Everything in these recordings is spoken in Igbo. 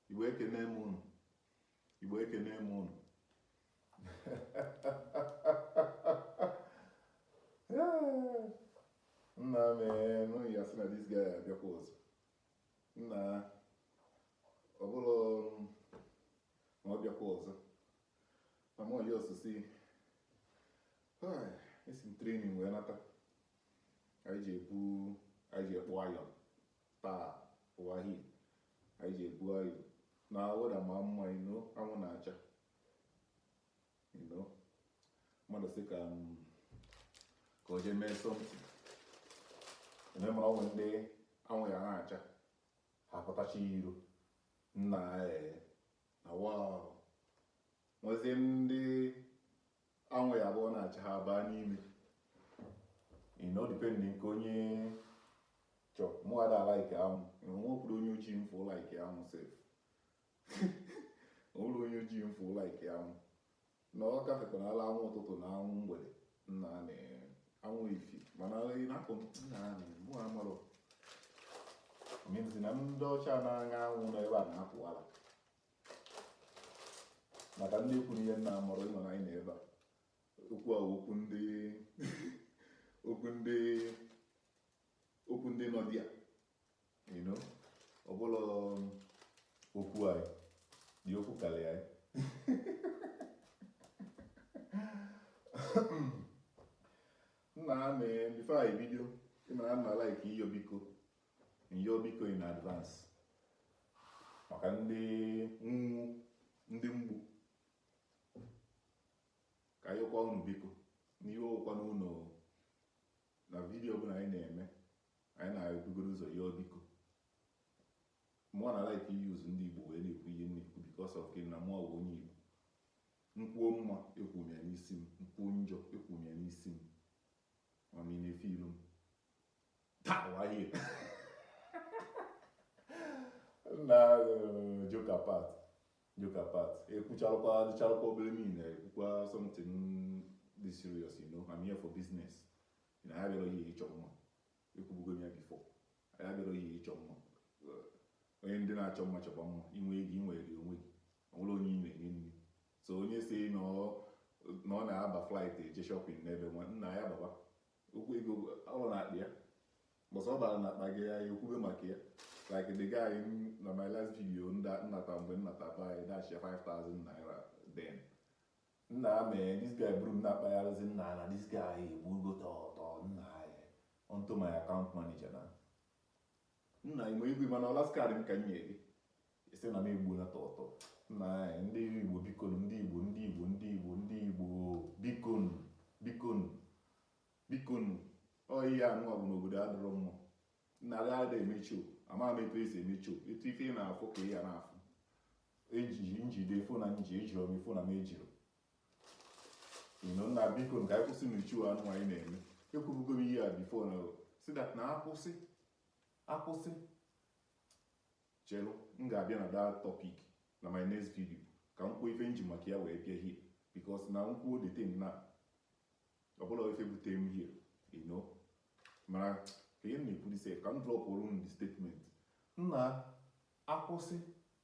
Igbo ekene m unu Igbo ekene m unu nna mehn unu ya-asị na this guy abịakwa ọzọ nna ọ bụrụ ma ọ bịakwa ọzọ na m ọjọọ osisi esi m training wee nata anyị ji ebu anyị ji ekpụ iron Taa ụwa here, anyị ji ebu iron na weather ma mma you know anwụ na-acha you know mmadụ sị ka mm, ka o jee mee something ị mara o nwe ndị anwụ ya na-acha ha pụtacha iro nna ee na wa nwezie ndị anwụ ya-abụ ọ na-acha ha baa n'ime you know depending nke onye chọ mụwa ada like anwụ nwekwuru onye ojii m fụụ like anwụ sef o nwerọ onye ojii m fụụ like anwụ na ọ gafekwala anwụ ụtụtụ na anwụ mgbede na anwụ efifie mana ị na-akụ nna mehn mụ amarọ mezi na ndị ọcha na-aṅa anwụ n'ebe a na-apụ ala maka ndị ikwu na ihe nna amụrụ ịnọ na anyị na ebe a okwu a okwu ndị okwu ndị okwu ndị nọ dị ya ọ bụla okwu anyị dị okwu karịa anyị nna amị bifo anyị bido ịmara nna laik iyo biko Ịyọ biko in advance maka ndị nwu ndị mgbu ka a yọkwa unu biko n'iwe ewekwana unu na video ọbụla anyị na-eme anyị na-ebugoro ụzọ yọọ biko mụwa na-like use ndị Igbo wee na-ekwu ihe na-ekwu because of gịnị na mụwa bụ onye Igbo m kwuo mma ekwuo m ya n'isi m m kwuo njọ ekwuo m ya n'isi m ma m na-efe ilu m Pow, right here. na uh, joke apart joke apart ekwuchalụkwa adịchalụkwa obere niile ekwukwa something dị serious you know I'm here for business na ya bịara ihe ịchọ mma ekwubugo m ya before ya bịara ihe ịchọ mma onye ndị na-achọ mma chọba mma i nwe ego i nwe ego onwe gị o nwere onye ị na-enye nri so onye si na ọ na-aba flight eje shopping n'ebe nwa nna ya baba okwu ego bụ ọrụ n'akpa ya but ọ bara n'akpa gị ya ekwube maka ya like the guy na my last video m nata mgbe m nata ba anyị dash 5000 naira then nna mehn this guy buru m na-akpagharịzi nna na this guy egbugo tọtọ nna ya onto my account manager na nna ime igwe mana ọ last card m ka m nye gị isi na m egbu na tọtọ nna anyị ndị igbo bikonu ndị igbo ndị igbo ndị igbo ndị igbo bikonu bikonu bikonu ọ ihe anụwa bụ n'obodo adịrọ mma nna gị ada eme show ama m etu esi eme show etu ife ị na-afụ ka ị ya na-afụ ejiji njide phone a m ji ejirọ m phone a m ejirọ nna bikonu ka anyị kwụsịnụ show anụwa anyị na-eme ekwubugo m ihe a before na sị that na akwụsị akwụsị chelụ m ga-abịa na that topic na my next video ka m kwuo ife m ji maka ya wee bịa here because na m kwuo the thing na ọbụla ife bute m here you know mana ka ihe na-ekwuri sef ka m drop oru m the statement nna akwụsị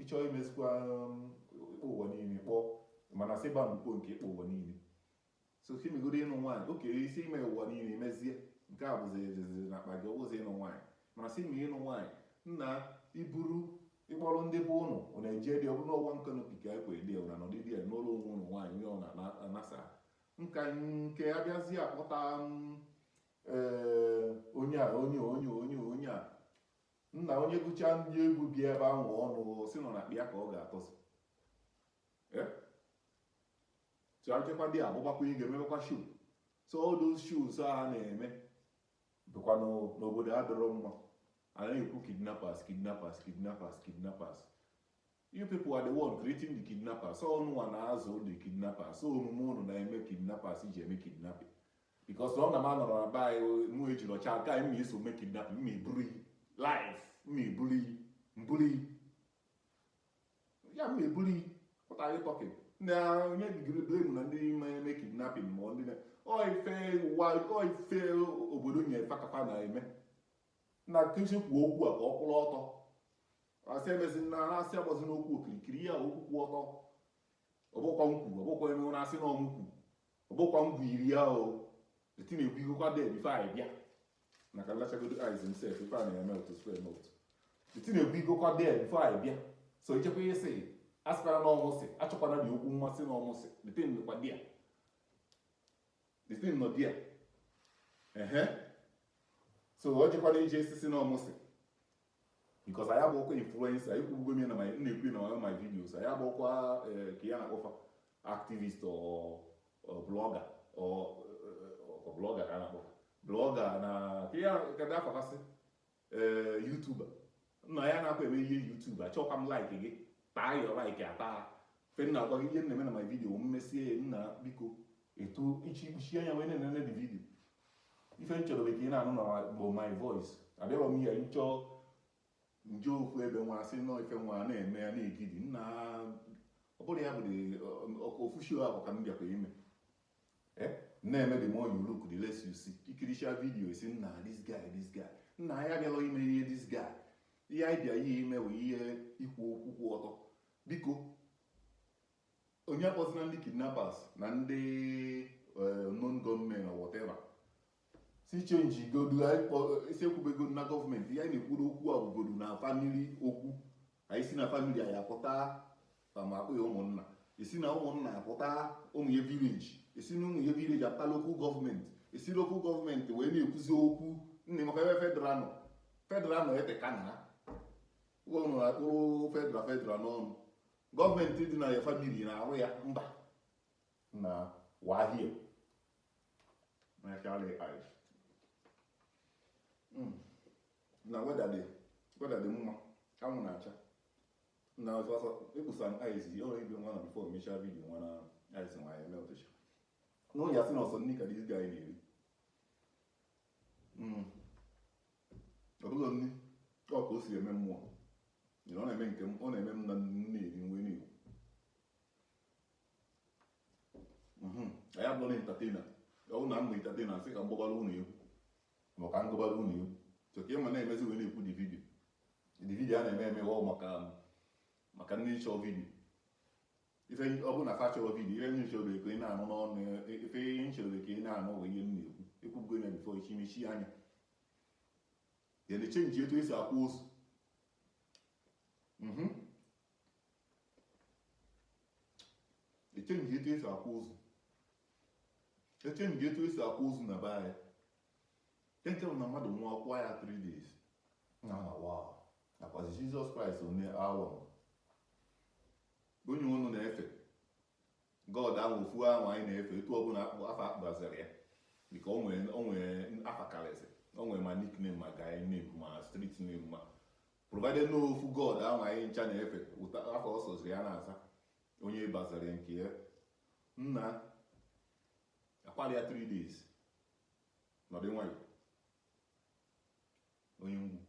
ịchọọ imezikwa um, ịkpọ ụwa niile kpọ mana sị ba mkpo nke ịkpọ ụwa niile so ka imegodo ịnụ nwaanyị oke isi ime ụwa niile mezie nke a bụzi ejeziri na akpa gị ọbụzi ịnụ nwaanyị mana sị ma ịnụ nwaanyị nna iburu ịkpọrọ ndị bụ ụnụ ọ na-eje dị ọbụrụ ọwa nka n'opi ka ekwe dị na nọdịdị ya n'ụlọ onwe ịnụ nwaanyị onye ọ na-anasa nka nke abịazi akpọta um, ee, onye a onye a, onye a, onye a, onye a nna onye gụchaa ndị egwu bịa ebe ahụ unu sị na ọ na kpịa ka ọ ga-atọzi chọchekwa dị agbụgbakwa ị ga-emebekwa show so all those shows a na-eme bụkwa n'obodo adịrọ mma a na-ekwu kidnappers kidnappers kidnappers kidnappers You people are the one creating the kidnappers. So ọ ununwa na-azụ the kidnappers. So omume unu na-eme kidnappers ji eme kidnapping. Because ọ na m anọrọ na be anyị mụ ejiri ọcha aka anyị mma iso mee kidnapping mma iburu iyi life mma iburu iyi mburu iyi ya mma eburu iyi what are you talking na onye digiri blame na ndị na-eme kidnapping ma ndị na ọ ife ụwa ọ ife obodo nyere fa ka fa na-eme na nkezi kwuo okwu a ka ọ kwụrụ ọtọ asị emezina na asị agbazina okwu okirikiri ya okwu kwụ ọtọ ọbụkwa nkwu ọbụkwa eme ụra asị na ọ mụ kwu ọbụkwa m kwuru ya o eti na-ekwu ihukwa there before anyị bịa maka lachagodo eyes himself ife a na-eme otu square note eti na-ekwu ihukwa there before anyị bịa so ichekwa ihe sị asịkwara na ọ mụ sị achọkwara dị okwu mmasị na ọ mụ sị the thing nọkwa there the thing nọ there ehe so ọ jekwana ije sisi na ọ mụ sị because anyị abụọkwa influencer ekwubugo m ya na na-ekwu na my my videos anyị abụọkwa eh, ka ya na-akpọ fa activist or blogger or eh, blogger ka a na-akpọ blogger na ka ya ka dị afakasị eh, youtuber nna ya na-akwa eme ihe YouTube achọkwa m like gị taa ya like ata fe nna agwa gị ihe na-eme na my video m mesie ya nna biko etu ichi ikpuchi anya wee na-enene the video ife m chọrọ ka ị na-anụ na bụ my voice abịarọ m ihe nchọ nje ofu ebe nwa asị nọ ife nwa na-eme ya na-egidi nna ọ bụrọ ya ọ bụrọ ofu show ahụ ka m bịakwa ime eh? na-eme the more you look the less you see i kirichaa vidio sị nna this guy this guy nna anyị abịarọ ime ihe this guy ihe anyị bịara ime bụ ihe ikwu okwu kwụ ọtọ biko Onye akpọzina ndị kidnappers na ndị eh, unknown gunmen or whatever. sị chenjigodu anyị kpọ- isi ekwubego na gọọmenti ihe anyị na-ekwuru okwu a bụgodu na famili okwu anyị si na famili anyị apụta ma ma akpọọ ya ụmụnna esi na ụmụnna apụta ụmụ ya vileji esi na ụmụ ya vileji apụta lokal gọọmenti esi lokal gọọmenti wee na-ekwuzi okwu nne maka ebe federal nọ federal nọ eteka na unu na-akpụrụ federal federal n'ọnụ gọọmenti dị na ya famili na-arụ ya mba na wahie mechara ice hmm. na weda dị weda dị mma anwụ na-acha na ọsọsọ ịkpụsa m ice o nwere ebe nwa na bifo emechaa vidiyo nwa na ice nwa ya meltesha unu ya-asị na ọ sọ nri ka this guy na-eri hmm. ọ bụrọ nri ọ ka o si eme mụwa Nyere ọ na-eme nke m ọ na-eme m na nne eri nwe n'iwu Mhm. anyị abụrọ entatena ọ bụ na m bụ entatena asị ka m gbabara unu egwu ma ka m gụbara unu egwu so ka ịma na-emezi wee na-ekwu the vidio the vidio a na-eme eme ọ maka maka ndị chọọ vidio ife ọ bụ na fa chọrọ vidio ife m chọrọ ka ị na-anụ n'ọnụ ife ihe m chọrọ ka ị na-anụ bụ ihe m na-ekwu ekwubugo ya bifo ichi mechie anya ya na chenji etu esi akwa ozu mhm. echenji etu esi akwa ozu echenji etu esi akwa ozu na be anyị nke bụ na mmadụ nwụọ akwaa ya 3 days na awa nakwazi jizọs kraịst onye ahụ onye unu na-efe God ahụ ofu ahụ anyị na-efe etu ọbụla akpọ afa akpọbazara ya dịka o nwere o nwere afa karịsị o nwere ma nickname ma guy name ma street name ma provided na ọ ofu God ahụ anyị ncha na-efe ụta afa ọ sọziri ya na-aza onye bazara nke ya nna akwara ya 3 days nọdụ nwayọ onye nwụọ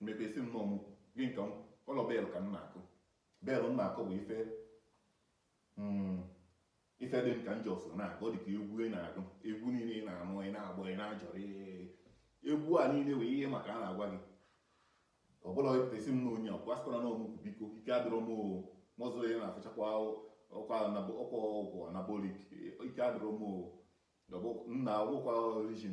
mepesi nnọọ mụ gị nke ụlọ bell ka m na-akụ bell m na-akụ bụ ife hmm, ife dị m ka njọ so na ọ dị ka egwu ị na-agụ egwu niile ị na-anụ ị na-agba ị na-ajọrọ egwu a niile wee ihe maka a na-agwa gị ọ bụla epụtasi m na onye ọkwa sịkwara na ọmụkwụ biko ike adịrọ m mọzụ ya na-afụchakwa ọkwa ọgwụ anabolik ike adịrọ m nna agwụkwa origin